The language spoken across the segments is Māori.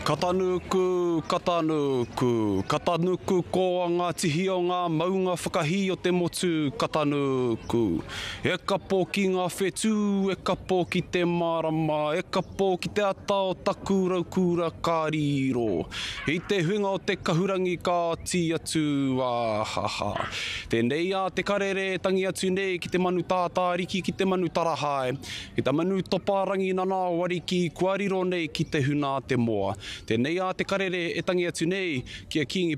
Ka tanuku, ka tanuku, ka tanuku koa ngā tihi o ngā maunga whakahī o te motu, ka tanuku. E kapo ki nga whetū, e kapo ki te marama, e kapo ki te ata o taku raukūra ka riro. I te huinga o te kahurangi ka oti atu, ahaha. Tenei a te karere e tangi atu nei ki te manu tātāriki ki te manu tarahae, ki ta manu topa rangi nana o ariki kua riro nei ki te huna a te moa. Tenei a te karere e tangi atu nei ki a Kingi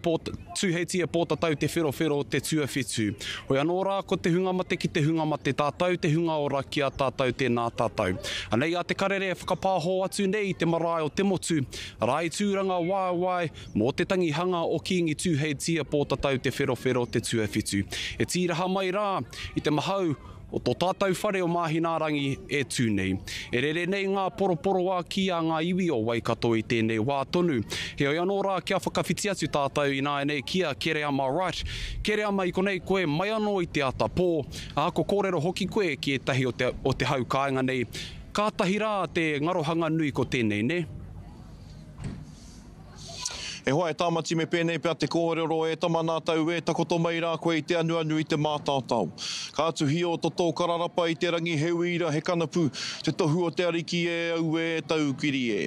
Tūheitia Pōtatau Te Wherowhero o te Tuawhitu Hoi anō rā ko te hunga mate ki te hunga mate tātou te hunga ora ki a tātou tēnā tātou Anei a Te Karere e whakapāho atu nei i te marae o te motu Rā i tūranga waewae mō te tangihanga o Kīngi Tūheitia Pōtatau Te Wherowhero o te Tuawhitu E tīraha mai rā i te mahau O tō tātou whare o Māhinaarangi e tū nei. E rere nei ngā poroporoā ki a ngā iwi o Waikato i tēnei wā tonu. Heoi anō rā kia whakawhiti atu tātou ināianei ki a Kereama Wright, Kereama i konei koe mai anō i te ata pō, ā, ko kōrero hoki koe ki ētahi o te o te hau kāinga nei, kātahi rā te ngarohanga nui ko tēnei nē? E hoa, e Tāmati me pēnei pea te kōrero, e tama nā tau e takoto mai rā koe i te anuanu i te mātaotao. Ka tuhio to tō kararapa i te rangi he uira, he kanapu, te tohu o te Ariki e auē tau kiri e.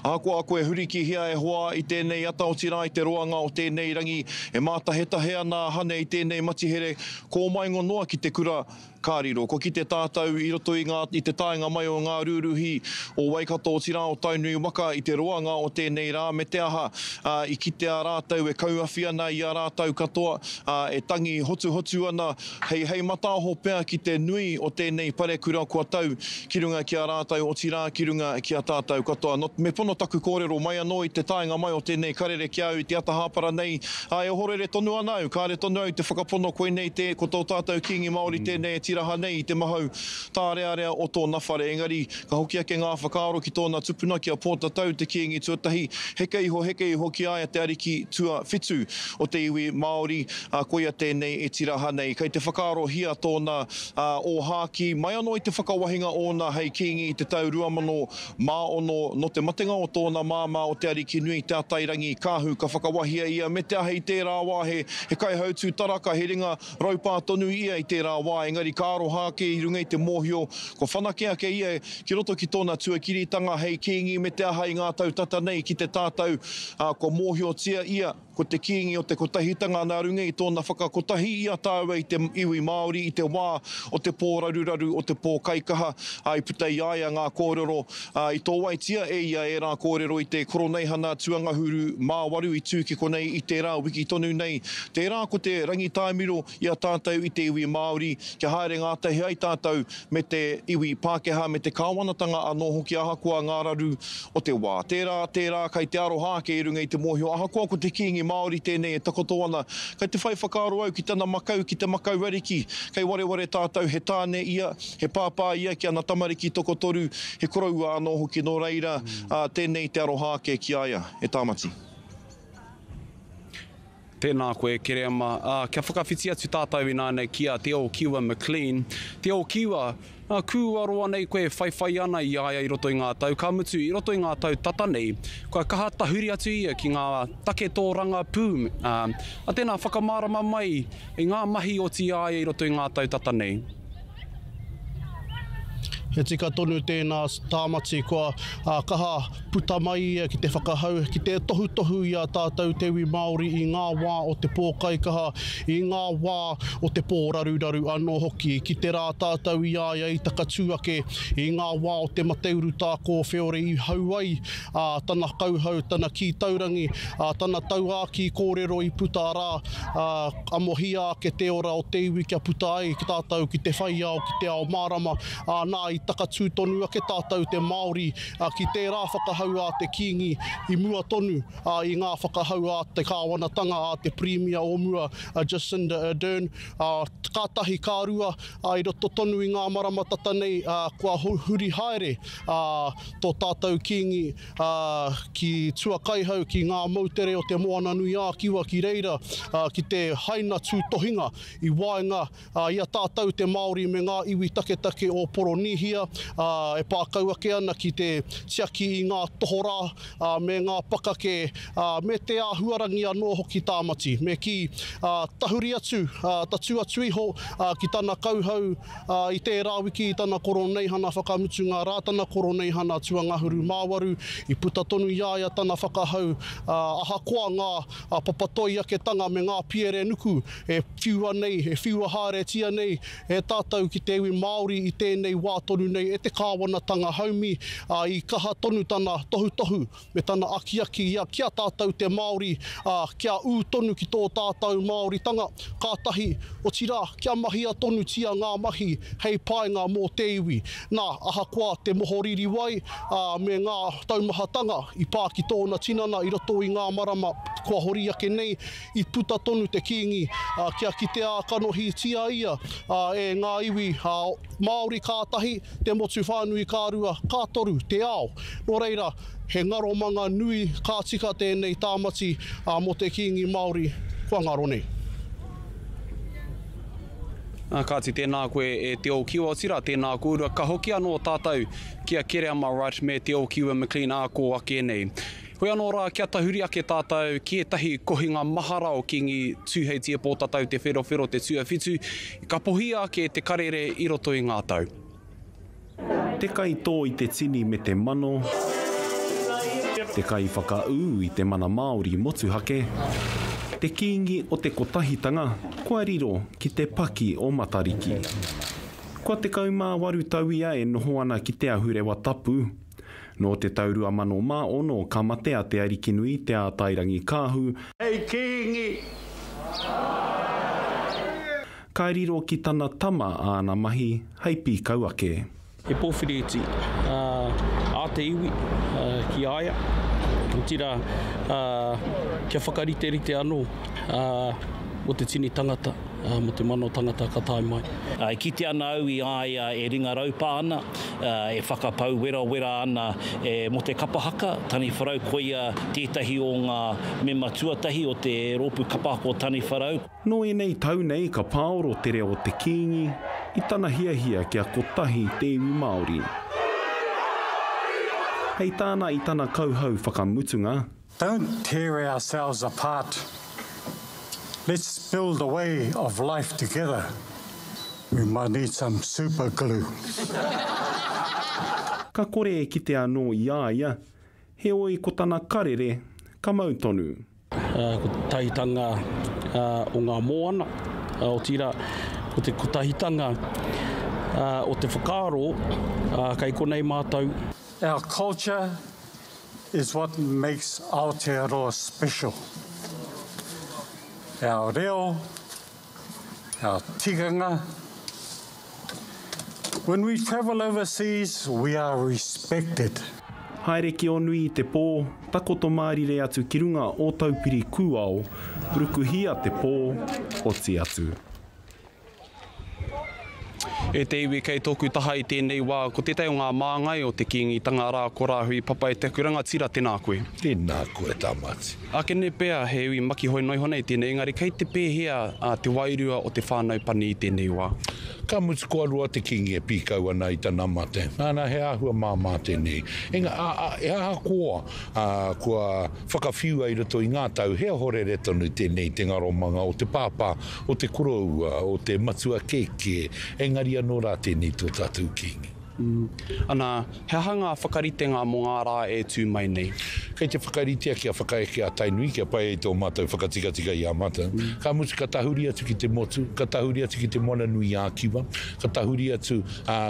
Ahakoa koe hurikihia e hoa i tēnei ata otirā i te roanga o tēnei rangi e mātahetahe ana a Hane i tēnei matihere, kōmaingo noa ki te kura, Ka riro, ko kite tātau i roto i ngā, i te taenga mai o ngā rūruhi o Waikato otirā o Tainui waka i te roanga o tēnei rā me te aha, ā, i kitea rātau e kauawhi ana i a rātau katoa, ā, e tangi hotuhotu ana hei, hei mataaho pea ki te nui o tēnei parekura kua tau ki runga ki a rātau otirā ki runga ki a tātau katoa. Nō, me pono taku kōrero mai anō i te taenga mai o tēnei karere ki a au i te ata hāpara nei, Ā, e ohorere tonu ana au, kāre tonu au te whakapono koinei tē, ko tō tātou Kīngi Māori tēnei e tīraha nei i te mahau tārearea o tōna whare. Engari, ka hoki ake ngā whakaaro ki tōna tupuna, ki a Pōtatau, te Kīngi tuatahi, heke iho, heke iho ki a ia te ariki tuawhitu o te iwi Māori, ā, koia tēnei e tīraha nei. Kei te whakaarohia tōna ōhākī mai anō i te whakawahinga ōna hei Kīngi i te tau 2000 Māono, nō te matenga o tōna māmā o Te Arikinui, Te Atairangi, Kahu, ka whakawahia ia me te aha i tērā wā he kaihautū taraka, he ringa raupā tonu ia i tērā wā, engari ka aroha ake i runga i te mōhio kua whanake ake ia ki roto ki tōna tuakiritanga hei Kīngi me te aha i ngā tau tata nei ki te tātou kua mōhiotia ia. Ko te kīngi o te kotahitanga nā runga i tōna whakakotahi i a tāua i te iwi Māori i te wā o te pōraruraru, o te pōkaikaha, ā, i puta i a ia ngā kōrero, ā, i tōaitia e ia ērā kōrero i te Koroneihana Tuangahuru mā waru i tū ki konei i tērā wiki tonu nei, tērā ko te Rangitaimiro, i a tātou i te iwi Māori, kia haere ngātahi ai tātou me te iwi Pākehā me te kāwanatanga anō hoki ahakoa ngā raru o te wā. Tērā, tērā, kai te aroha ake i runga i te mōhio ahakoa ko te Kīngi Māori tēnei e takoto ana, kai te whai whakaaro au ki tana makau ki te makau ariki, kai wareware tātou he tāne ia, he pāpā ia ki ana tamariki tokotoru, he koroua anō hoki nō reira, ā, tēnei te aroha ake ki a ia, e Tāmati. Tēnā koe, Kerēma. Ā, kia whakawhiti atu tātou ināianei ki a Te Ōkiwa McLean. Te Ōkiwa, ā, kūaroa nei koe e whaiwhai ana i a ia i roto i ngā tau, ka mutu, i roto i ngā tau tata nei, kua kaha tahuri atu ia ki ngā take tōrangapū, ā, ā, tēnā whakamārama mai i ngā mahi oti i a ia i roto i ngā tau tata nei. He tika tonu tēnā tāmati kua uh, kaha puta mai ia ki te whakahau, ki te tohutohu i a tātou te iwi Māori i ngā wā o te pōkaikaha, i ngā wā o te pōraruraru anō hoki. Ki te rā tātou i a ia i takatū ake i ngā wā o te mateuru tā kōwheore i hau ai ā, tana kauhau, tana kī taurangi, ā, tana tauākī kōrero i puta arā, ā, amohia ake te ora o te iwi kia puta ai ki tātou ki te whai ao, ki te ao mārama, ā, nā, i takatū tonu ake tātou te Māori ki tērā whakahau a te Kīngi i mua tonu, ā, i ngā whakahau a te kāwanatanga, a te Pirimia o mua, a Jacinda Ardern, ā, ka tahi, ka rua, ā, i roto tonu i ngā marama tata nei, ā, kua huri haere, ā, tō tātou Kīngi, ā, ki Tuakaihau, ki ngā moutere o Te Moananui-ā-Kiwa ki reira, ā, ki te haina tūtohinga i waenga i a tātou te Māori me ngā iwi taketake o Poronīhia, ā, e pā kau ake ana ki te tiaki i ngā tohorā, ā, me ngā pakake, ā, me te āhuarangi anō hoki Tāmati. Me kī, ā, tahuri atu, ā, tatū atu iho, ā, ki tana kauhau, ā, i tērā wiki i tana Koroneihana whakamutunga rā tana Koroneihana tuangahuru māwaru, i puta tonu i a ia tana whakahau, ā, ahakoa ngā papa toi aketanga me ngā piere nuku e whiua nei, e whiua haeretia nei e tātou ki te iwi Māori i tēnei wā tonu nei e te kāwanatanga haumi, ā, i kaha tonu tana tohutohu. me tana akiaki ia ki a tātou te Māori, ā, kia ū tonu ki tō tātou Māoritanga, kātahi, otirā, kia mahia tonutia ngā mahi hei painga mō te iwi. Nā, ahakoa te moho ririwai, ā, me ngā taumahatanga i pā ki tōna tinana i roto i ngā marama kua hori ake nei, i puta tonu te Kīngi kia kitea kanohitia ia e ngā iwi Māori ka tahi, te motu whānui ka rua, ka toru te ao. Nō reira, he ngaromanga nui ka tika tēnei tāmati mō te Kīngi Māori kua ngaro nei. Ā, kāti, tēnā koe e Te Ōkiwa, otirā, tēnā kōrua. Ka hoki anō tātou ki a Kereama Wright me Te Ōkiwa McLean ā kō ake nei. Hoi anō rā, kia tahuri ake tātou ki ētahi kohinga mahara o Kīngi Tūheitia Pōtatau Te Wherowhero Te Tuawhitu Ka pohia ake te karere i roto i ngā tau. Te kai tō i te tini me te mano, te kai whakaū i te mana Māori motuhake, te kīngi o te kotahitanga kua riro ki te paki o Matariki. Kua tekau mā waru tau ia e noho ana ki Te Ahurewa Tapu, Nō te tau 2006 ka mate a Te Arikinui, Te Ātairangikaahu, Hei Kīngi! Ka riro ki tana tama āna mahi hei pīkau ake. He pōwhiriiti ā te iwi ki a ia, otirā kia whakariterite anō mō te tini tangata, mō te mano tangata ka tae mai. E kite ana au i a ia e ringa raupā ana, e whakapau werawera ana e Mo Te Kapa Haka, Taniwharau, koia tētahi o ngā mema tuatahi o te rōpū kapa ako Taniwharau. Nō ēnei tau nei ka pāoro te reo o te Kīngi i tana hiahia kia kotahi te iwi Māori. Hei tāna i tana kauhau whakamutunga, Don't tear ourselves apart, let's build a way of life together, we might need some super glue. Ka kore e kite anō i a ia, heoi ko tana karere ka mau tonu. Ko te tahitanga o ngā moana, otirā, ko te kotahitanga o te whakaaro, kei konei mātou. Our culture is what makes Aotearoa special. Our reo, our tikanga. When we travel overseas, we are respected. Haere ki o nui i te pō, takoto mārire atu ki runga o Taupiri kūao, rukuhia te pō, oti atu. E te iwi kei tōku taha i tēnei wā, ko tētahi o ngā māngai o te Kīngitanga rā ko Rāhui Papaiteaku Rangatira, tēnā koe. Tēnā koe Tamati. Akene pea he iwi makihoi noa iho nei tēnei, engari kei te pēhea te wairua o te whānau pani i tēnei wā? Ka mutu kua roa te Kīngi e pīkau ana i tana mate. Nana, he āhua māmā tēnei. Engā, ā, ā, he ahakoa, ā, kua whakawhiua i roto i ngā tau, he ohorere tonu tēnei i te ngaromanga o te pāpā o te koroua, o te matua kēkē, engari anō rā tēnei tō tātou Kīngi. Ana, he aha ngā whakaritenga mō ngā rā e tū mai nei? Kei te whakaritea kia whakaeke a Tainui kia pai ai tō mātou whakatikatika i a mātou. Ka mutu ka tahuri atu ki te motu, ka tahuri atu ki te moana nui ā-kiwa, ka tahuri atu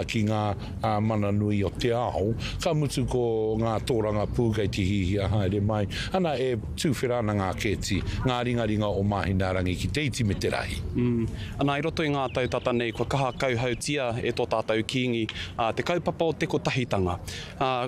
ki ngā. ā mana nui o te ao, ka mutu ko ngā tōrangapū kei te hihia haere mai, ana e tuwhera ana ngā kēti, ngā ringaringa o Māhinaarangi ki te iti me te rahi. Ana i roto i ngā tau tata nei kua kaha kauhautia e tō tātou Kīngi te kaupapa o te kotahitanga.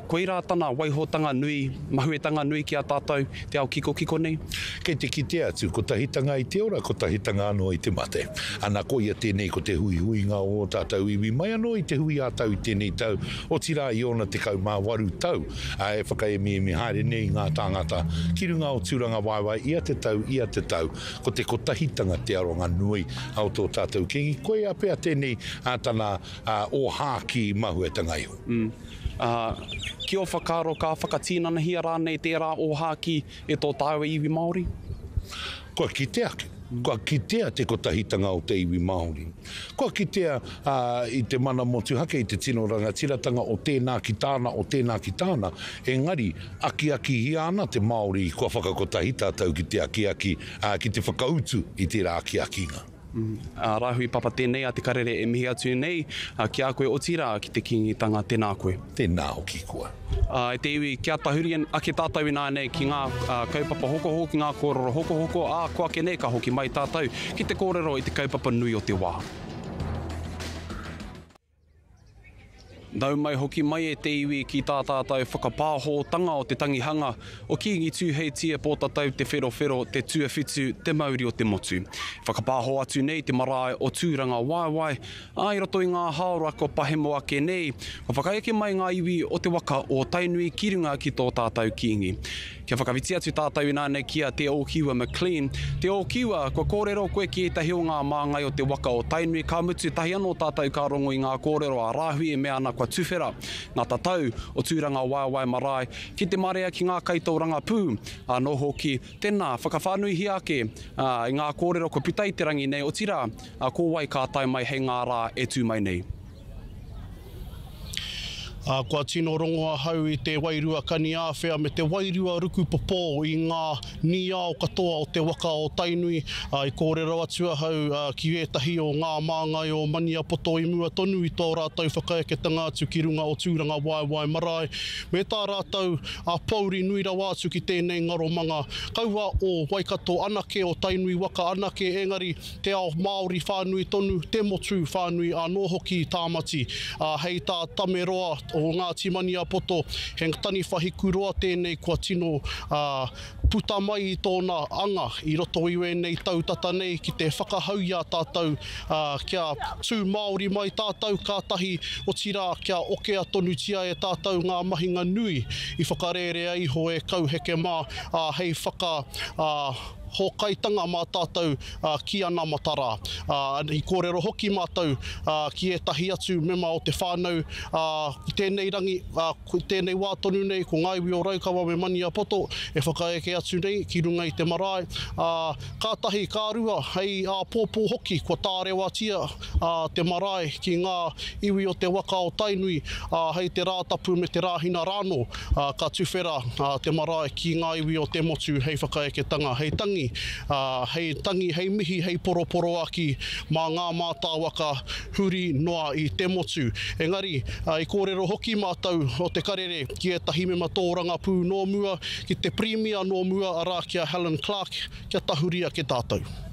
Koirā tana waihotanga nui, mahuetanga nui ki a tātou, te ao kikokiko nei? Kei te kite atu, kotahitanga i te ora, kotahitanga anō i te mate. Ana, koia tēnei ko te huihuinga o ō tātou iwi, mai anō i te hui ā-tau i tēnei tau, otirā i ōna tekau mā waru tau, ā, e whakaemiemi haere nei ngā tāngata ki runga o Tūrangawaewae ia te tau, ia te tau, ko te kotahitanga te aronga nui o tō tātou Kīngi, koia pea tēnei tana ōhākī mahuetanga iho. Umm. Aa, ki o whakaaro ka whakatinanahia rānei tērā ōhākī e tō tāua iwi Māori? Kua kite ake, kua kitea te kotahitanga o te iwi Māori. Kua kitea, aa, i te mana motuhake, i te tino rangatiratanga o tēnā ki tāna, o tēnā ki tāna, engari, akiakihia ana te Māori kua whakakotahi tātou ki te akiaki, aa, ki te whakautu i tērā akiakinga. Ā, Rāhui Papa tēnei a Te Karere e mihi atu nei ki a koe otirā ki te Kīngitanga, tēnā koe. Tēnā hoki koa. Ā, e te iwi, kia tahuri ake tātou ināianei ki ngā kaupapa hokohoko, ki ngā kōrero hokohoko, ā, kua ake nei ka hoki mai tātou ki te kōrero i te kaupapa nui o te wā. Nau mai hoki mai e te iwi ki tā tātou whakapāhōtanga o te tangihanga o Kīngi Tūheitia Pōtatau Te Wherowhero te tuawhitu te mauri o te motu. E whakapāho atu nei te marae o Tūrangawaewae, ā, i roto i ngā hāora kua pahemo ake nei, kua whakaeke mai ngā iwi o te waka o Tainui ki runga ki tō tātou Kīngi. Kia whakawhiti atu tātou ināianei ki a Te Ōkiwa McLean. Te Ōkiwa, kua kōrero koe ki ētahi o ngā māngai o te waka o Tainui, ka mutu tahi anō tātou ka rongo i ngā kōrero a Rāhui e mea ana kua tuwhera ngā tatau o Tūranga Waewae Marae ki te marea ki ngā kaitōrangapū anō hoki. Tēnā, whakawhānuihia ake i ngā kōrero kua puta i te rangi nei, otirā, ko wai ka tae mai hei ngā rā e tū mai nei. Ā, kua tino rongo ahau i te wairua kaniāwhea me te wairua rukupopō i ngā nīao katoa o te waka o Tainui, ā, i kōrero atu ahau ki ētahi o ngā māngai o Maniapoto i mua tonu i tō rātou whakaeketanga atu ki runga o Tūrangawaewae marae, me tā rātou pōuri nui rawa atu ki tēnei ngaromanga kaua o Waikato anake, o Tainui waka anake, engari, te ao Māori whānui tonu, te motu whānui anō hoki i Tāmati. Ā, hei tā Tame Roa o Ngāti Maniapoto, he taniwha hikuroa tēnei kua tino puta mai i tōna anga i roto i ēnei tau tata nei ki te whakahau i a tātou kia tū Māori mai tātou kātahi, otirā kia okea tonutia e tātou ngā mahinga nui i whakarērea iho e Kauheke mā hei whaka hōkaitanga mā tātou ki anamata rā. I kōrero hoki mātou ki ētahi atu mema o te whānau i tēnei rangi, i tēnei wā tonu nei, ko ngā iwi o Raukawa me Maniapoto e whakaeke atu nei ki runga i te marae, ā, kātahi, ka rua, hei āpōpō hoki kua tārewatia. a te marae ki ngā iwi o te waka o Tainui, ā, hei te Rātapu me te Rāhina rānō, ā, ka tuwhera te marae ki ngā iwi o te motu hei whakaeketanga, hei tangi, ā, hei tangi, hei mihi, hei poroporoaki mā ngā mātāwaka huri noa i te motu. Engari, i kōrero hoki mātou o Te Karere ki ētahi mema tōrangapū nō mua, ki te Pirimia nō mua, arā, ki a Helen Clark, kia tahuri ake tātou.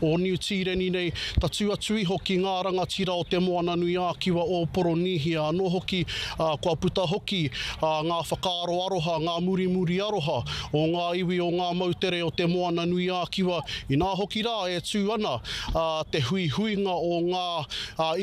o Niu Tīreni nei, tatū atu iho ki ngā rangatira o Te Moananui-ā-Kiwa o Poronīhia anō hoki, ā, kua puta hoki ngā whakaaro aroha, ngā murimuri aroha o ngā iwi o ngā moutere o Te Moananui-ā-Kiwa, inā hoki rā e tū ana te huihuinga o ngā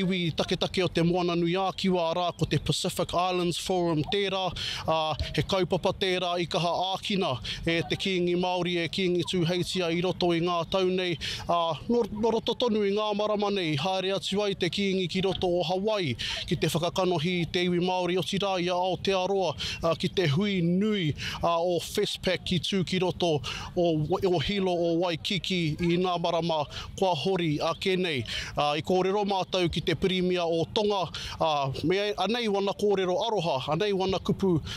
iwi taketake o Te Moananui-ā-Kiwa, arā, ko te Pacific Islands Forum tērā, ā, he kaupapa tērā i kaha ākina E te Kīngi Māori, e Kīngi Tūheitia i roto i ngā tau nei, ā, nō, nō roto tonu i ngā marama nei i haere atu ai te Kīngi ki roto o Hawaii ki te whakakanohi i te iwi Māori otirā i a Aotearoa ki te hui nui ā, o Westpac i tū ki roto o, o Hilo o Waikiki i ngā marama kua hori ake nei. Ā, i kōrero mātou ki te Pirimia o Tonga, ā, me, anei wana kōrero aroha, anei wana kupu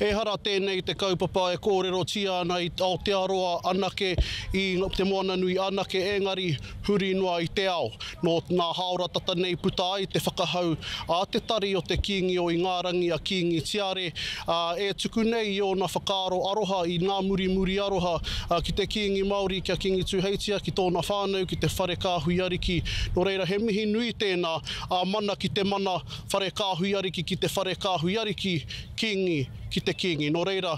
Ehara tēnei te kaupapa e kōrerotia ana i Aotearoa anake, i Te Moananui anake engari huri noa i te ao. Nō nā hāora tata nei puta ai te whakahau a te tari o te Kīngi o Ingārangi a Kīngi Tiare, ā, e tuku nei i ōna whakaaro aroha i Ngā Murimuri Aroha ki te Kīngi Māori kia kingituheitia ki tōna whānau ki te whare kāhui ariki. Nō reira he mihi nui tēnā, ā mana ki te mana Whare Kāhui Ariki ki te Whare Kāhui Ariki, Kīngi ki te Kīngi. Nō reira,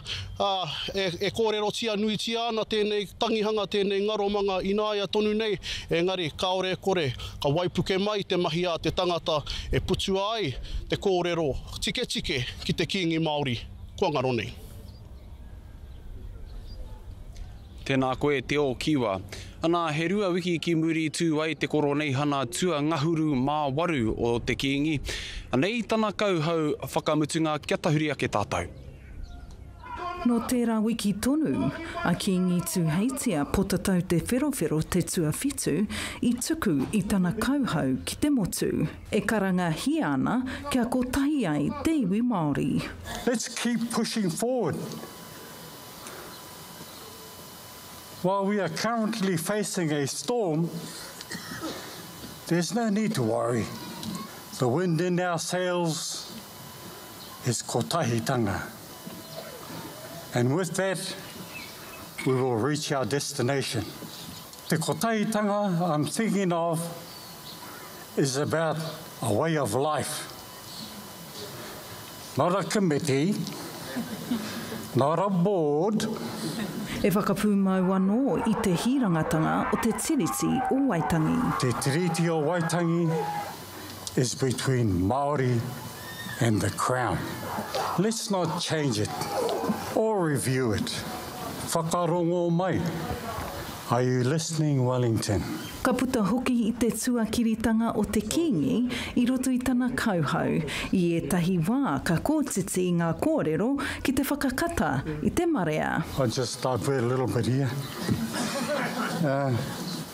e kōrerotia nuitia ana tēnei tangihanga, tēnei ngaromanga ināia tonu nei, engari kāore e kore, ka waipuke mai te mahi a te tangata e putua ai te kōrero tiketike ki te Kīngi Māori kua ngaro nei. Tēnā koe Te Ōkiwa. Anā, he rua wiki ki muri tū ai te Koroneihana tua ngahuru mā waru o te Kīngi. Anei tana kauhau whakamutunga kia tahuri ake tātou. Nō tērā wiki tonu, a Kīngi Tūheitia Potatau Te Wherowhero te tuawhitu i tuku i tana kauhau ki te motu. E karangahia ana kia kotahi ai te iwi Māori. Let's keep pushing forward. While we are currently facing a storm, there's no need to worry. The wind in our sails is kotahitanga. And with that, we will reach our destination. Te kotahitanga I'm thinking of is about a way of life, not a committee, not a board. E whakapūmau anō i te hīrangatanga o te Tiriti o Waitangi. Te Tiriti o Waitangi is between Māori and the Crown. Let's not change it or review it. Whakarongo mai. Are you listening Wellington? Ka puta hoki i te tuakiritanga o te Kīngi i roto i tana kauhau. I ētahi wā ka kōtiti ngā kōrero ki te whakakata i te marea. I'll just divert a little bit here.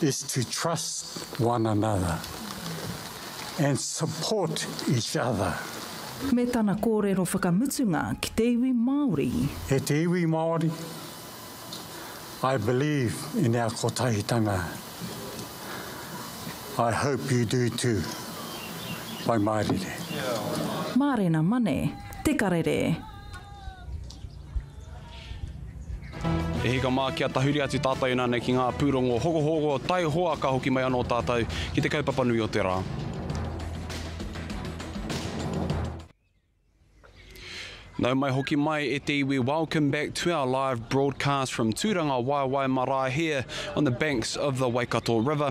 is to trust one another and support each other. Me tana kōrero whakamutunga ki te iwi Māori. E te iwi Māori, I believe in our kotahitanga. I hope you do too. Whai mārire. Mārena Mane, Te Karere. He hika mā kia tahuri atu tātou inānei ki ngā pūrongo hokohoko, taihoa ka hoki mai anō tātou ki te kaupapa nui o te rā. Nau mai hoki mai e te iwi Welcome back to our live broadcast from Tūrangawaewae marae here on the banks of the Waikato River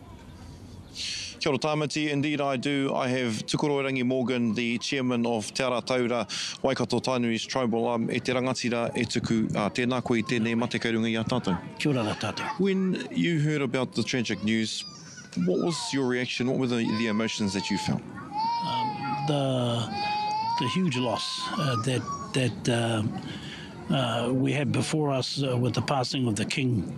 Kia ora Tāmati, indeed I do, I have Tukuroirangi Morgan, the Chairman of Te Ara Taura, Waikato Tainui's Tribal Arm, e te rangatira e tuku, ā, tēnā koe i tēnei mate kei runga i a tātou. Kia ora rā tātou. When you heard about the tragic news, what was your reaction, what were the, the emotions that you felt? The, the huge loss uh, that, that uh, uh, we have before us uh, with the passing of the King,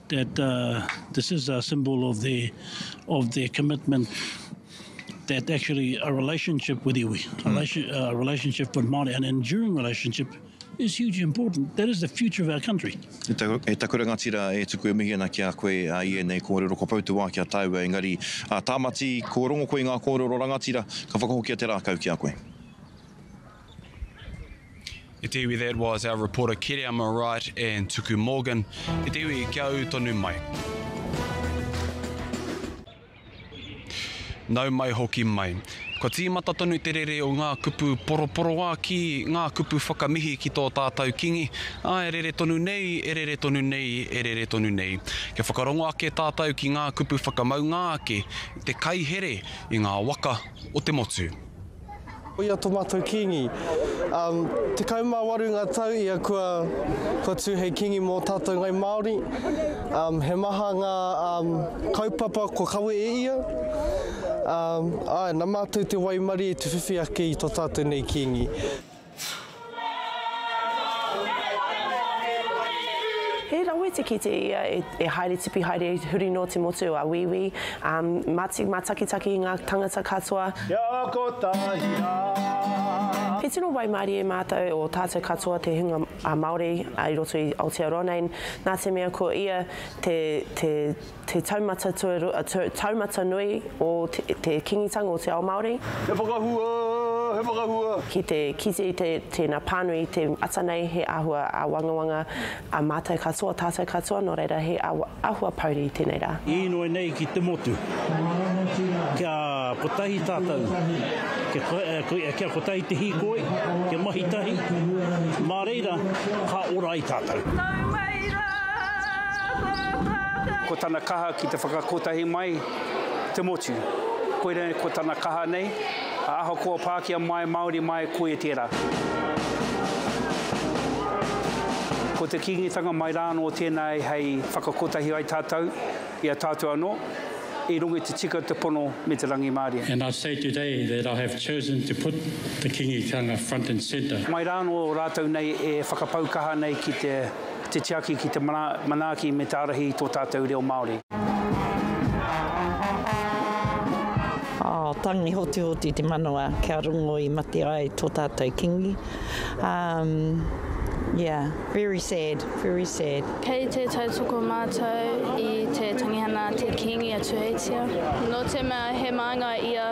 that this is a symbol of their of their commitment that actually a relationship with iwi, mm. a relationship with Māori, an enduring relationship is hugely important. That is the future of our country. E, ta, e taku rangatira e tuku e mihi ana ki a koe a i enei kōrero ko Pautuā ki a tāua engari a Tāmati ko rongo koe ngā kōrero rangatira ka whakahokia te rākau ki a koe. I te iwi that was our reporter Kereama Wright and Tuku Morgan. I te iwi kia au tonu mai. Nau mai hoki mai. Kua tīmata tonu te rere o ngā kupu poroporoā ki ngā kupu whakamihi ki tō tātau Kingi, ā, e rere tonu nei, e rere tonu nei, e rere tonu nei. Kia whakarongo ake tātau ki ngā kupu whakamaunga ake, te kai here i ngā waka o te motu. Koia tō mātou Kīngi. Um, 18 ngā tau ia kua, kua tū hei Kīngi mō tātou ngai Māori. Um, he maha ngā um, kaupapa kua kawe e ia. Um, ai, nā mātou te waimari e te whiwhi ake i tō tātou nei Kīngi. He rawe te kite ia e haere tipi haere huri no te motu a Wīwī, ma takitaki i nga tangata katoa. Kia kotahi ra. He tino waimarie matou o tatou katoa te hunga Maori i roto i Aotearoa nei, na te mea ko ia te Te taumata tuarua, a, te taumata nui o te, te kingitanga o te ao Māori. He whakahua, he whakahua. Ki te kite i te, tēnā pānui i te ata nei, he āhua āwangawanga a mātou katoa, tātou katoa, nō reira he awa, āhua pouri i tēnei rā. Īnoi nei ki te motu. Kia kotahi tātou, kia, kia kotahi te hīkoi, kia mahi tahi, mā reira ka ora ai tātou. Tau mai rā! Ko tana kaha ki te whakakotahi mai te motu. Koira ko tana kaha nei, a ahakoa Pākia mai, Māori mai, koia tērā. Ko te Kīngitanga mai rānō tēnā hei whakakotahi ai tātou i a tātou anō, i runga i te tika, te pono me te rangimārie. And I say today that I have chosen to put the Kīngitanga front and centre. Mai rānō rātou nei e whakapau kaha nei ki te. te tiaki ki te manaaki me te ārahi i tō tātou reo Māori. Tangi hotihoti te manawa kia rongo i mate ai tō tātou Kingi. Yeah, very sad, very sad. Kei te tautoko mātou i te tangihanga a te Kingi a Tūheitia. Nō te mea he māngai ia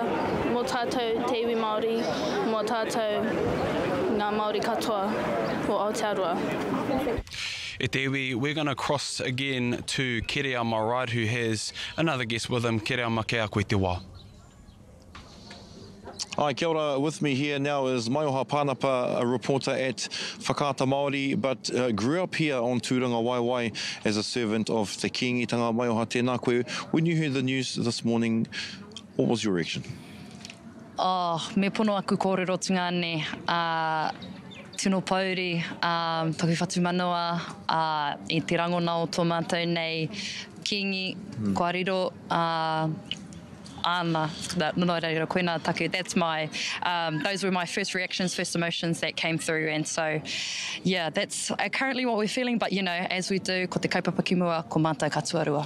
mō tātou te iwi Māori, mō tātou ngā Māori katoa o Aotearoa. E te iwi, we're gonna cross again to Kere on my right who has another guest with him, Kere ama kei a koe te wā. Hi, kia ora, with me here now is Maioha Panapa, a reporter at Whakaata Māori, but uh, grew up here on Tūrangawaewae as a servant of Te Kīngitanga. Maioha, tēnā koe. When you heard the news this morning, what was your reaction? Oh, me pono aku kōrerotunga ne, a Tino Pouri, a taku whatumanawa, a i te rangona o tō mātou nei Kīngi, kua riro, a āna, nō reira, koina taku, that's my, um, those were my first reactions, first emotions that came through and so, yeah, that's currently what we're feeling but you know, as we do, ko te kaupapa ki mua, ko mātou ka tuarua.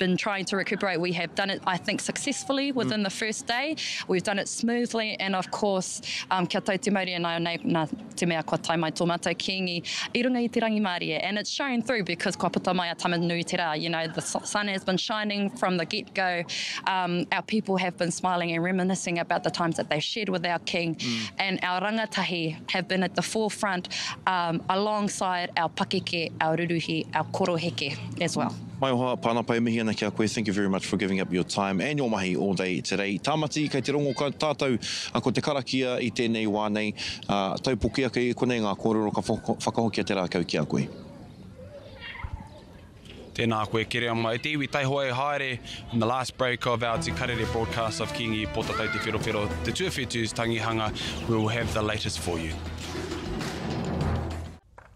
been trying to recuperate. We have done it, I think, successfully mm. within mm. the first day. We've done it smoothly, and of course, um, kia tau te mauri and I nei, na te mea kua tai mai tō mātou kīngi i runga i te rangimārie. And it's shown through because kua puta mai a tama nui te rā. You know, the sun has been shining from the get-go. Um, our people have been smiling and reminiscing about the times that they've shared with our king. Mm. And our rangatahi have been at the forefront um, alongside our pakeke, our ruruhi, our koroheke as well. Maioha, Pana pai mihi ana ki a koe, thank you very much for giving up your time and your mahi all day today. Tamati, kei te rongo tatou ko te karakia i tenei wa nei, taupoki ake i konei nga korero ka whakahokia te rakau ki a koe. Tēnā koe Kereama. E te iwi taihoa e haere on the last break of our Te Karere broadcast of Kingi Potatau Te Wherowhero, Te Tuawhetu's Tangihanga. We will have the latest for you.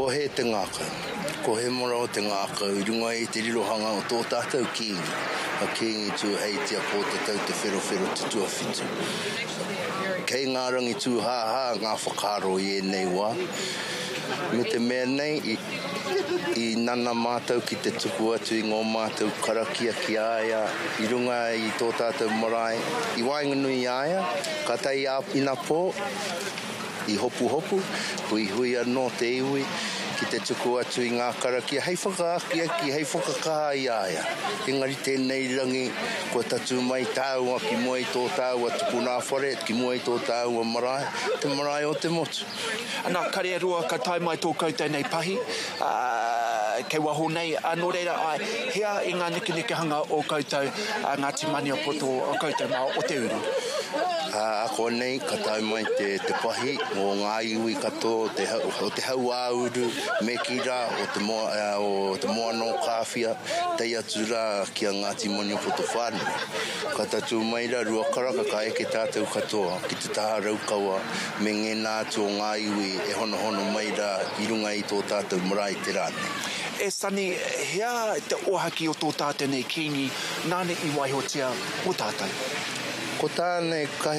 Ko hē te ngākau? Ko Hemorao te ngākau i runga i te rirohanga o tō tātou kīngi, a Kīngi Tūheitia Pōtatau Te Wherowhero Tutuawhitu. Kei ngā rangi tūhāhā ngā whakaaro i ēnei wā, me te mea nei i nana mātou ki te tuku atu i ngō mātou karakia ki a ia i runga i tō tātou marae i waenganui i a ia, ka tae i āwhina pō, I hopuhopu, huihui anō te iwi ki te tuku atu i ngā karakia hei whakaakiaki, hei whakakaha i a ia. Engari tēnei rangi, kua tatū mai tāua ki mua i tō tāua tupuna whare, ki mua i tō tāua marae, te marae o te motu. Anā, kare e roa ka tae mai tō koutou nei pahi. ā, kei waho nei, ā, nō reira, āe, hea i ngā nekenekehanga o koutou, a Ngāti Maniapoto, a koutou mā o te uru? Ā, akoanei ka tae mai te, te pahi mō ngā iwi katoa o te, o te hau-ā-uru, me kī rā, o te, o te moana o Kāwhia, tae atu rā ki a Ngāti Maniapoto whānui. Ka tatū mai rā, rua karaka, ka eke tātou katoa ki te taha Raukawa, me ngēnā atu o ngā iwi e honohono mai rā i runga i tō tātou marae te rā nei. E Sani, hea te ohaki o tō tātou nei Kīngi nāna i waihotia mō tātou? Ko tā nei, ka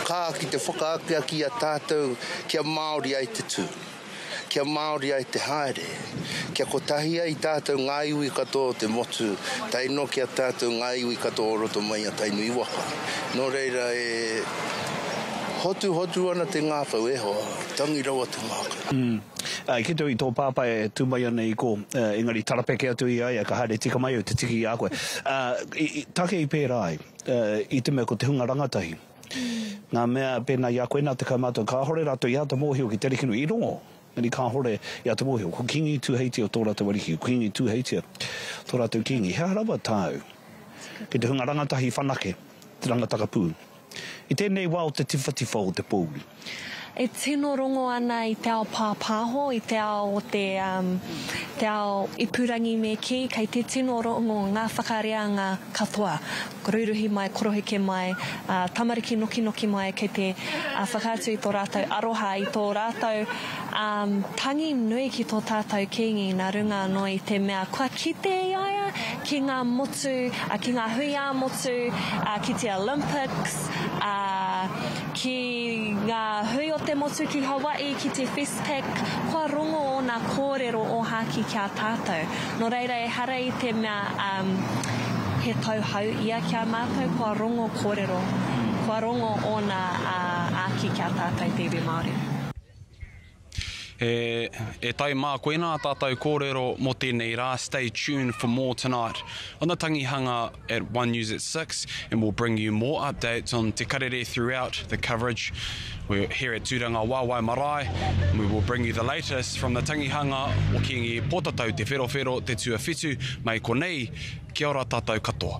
kā ki te whakaakiaki i a tātou kia Māori ai te tū. Kia Māori ai te haere. Kia kotahi ai tātou ngā iwi katoa o te motu, tae noa ki a tātou ngā iwi katoa o roto mai i a Tainui waka. Nō reira e hotuhotu ana te ngākau, e hoa, tangi rawa te ngākau. Umm. I kite au i tō pāpā e tū mai ana i kō, engari tarapeke atu i a ia ka haere tika mai au te tiki i a koe. Ā, i, i, take i pērā ai, i te mea ko te hunga rangatahi. Ngā mea pēnā i a koe nā te kaumātua kāhore rātou i āta mōhio ki te arikino i rongo, engari kāhore i āta mōhio. Ko Kīngi Tūheitia tō rātou ariki, ko Kīngi Tūheitia tō rātou kīngi. He aha rawa tāu? Kei te hunga rangatahi whanake te rangataka pū. I tēnei wā o te tiwhatiwha o te pōuri. E tino rongo ana i te ao pāpāho, i te ao o te, um, te ao ipurangi me kī, kei te tino rongo ngā whakareanga katoa. Ruiruhi mai, koroheke mai, uh, tamariki nokinoki mai, kei te uh, whakaatu i tō rātou aroha, i tō rātou um, tangi nui ki tō tātou Kīngi nā runga anō i te mea kua kite i a ia ki ngā motu, uh, ki ngā hui ā-motu, uh, ki te Olympics, uh, Ki ngā hui o te motu ki Hawaii ki te Festpac, kua rongo ōna kōrero ōhākī ki a tātou. Nō reira ehara i te mea he tau hau ia ki a mātou, kua rongo kōrero, kua rongo ōna āki ki a tātou te iwi Māori. E tae mā koena a tātou kōrero mō tēnei rā, stay tuned for more tonight on the Tangihanga at One News at Six and we'll bring you more updates on Te Karere throughout the coverage We're here at Tūranga Wāwae Marae and we will bring you the latest from the Tangihanga o Kīngi Pōtatau Te Wherowhero Te Tuawhitu mai konei, kia ora tātou katoa.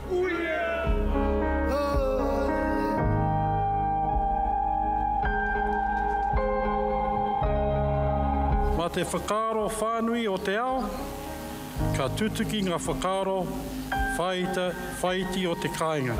Mā te whakaaro whānui o te ao, ka tutuki ngā whakaaro whāita, whāiti o te kāinga.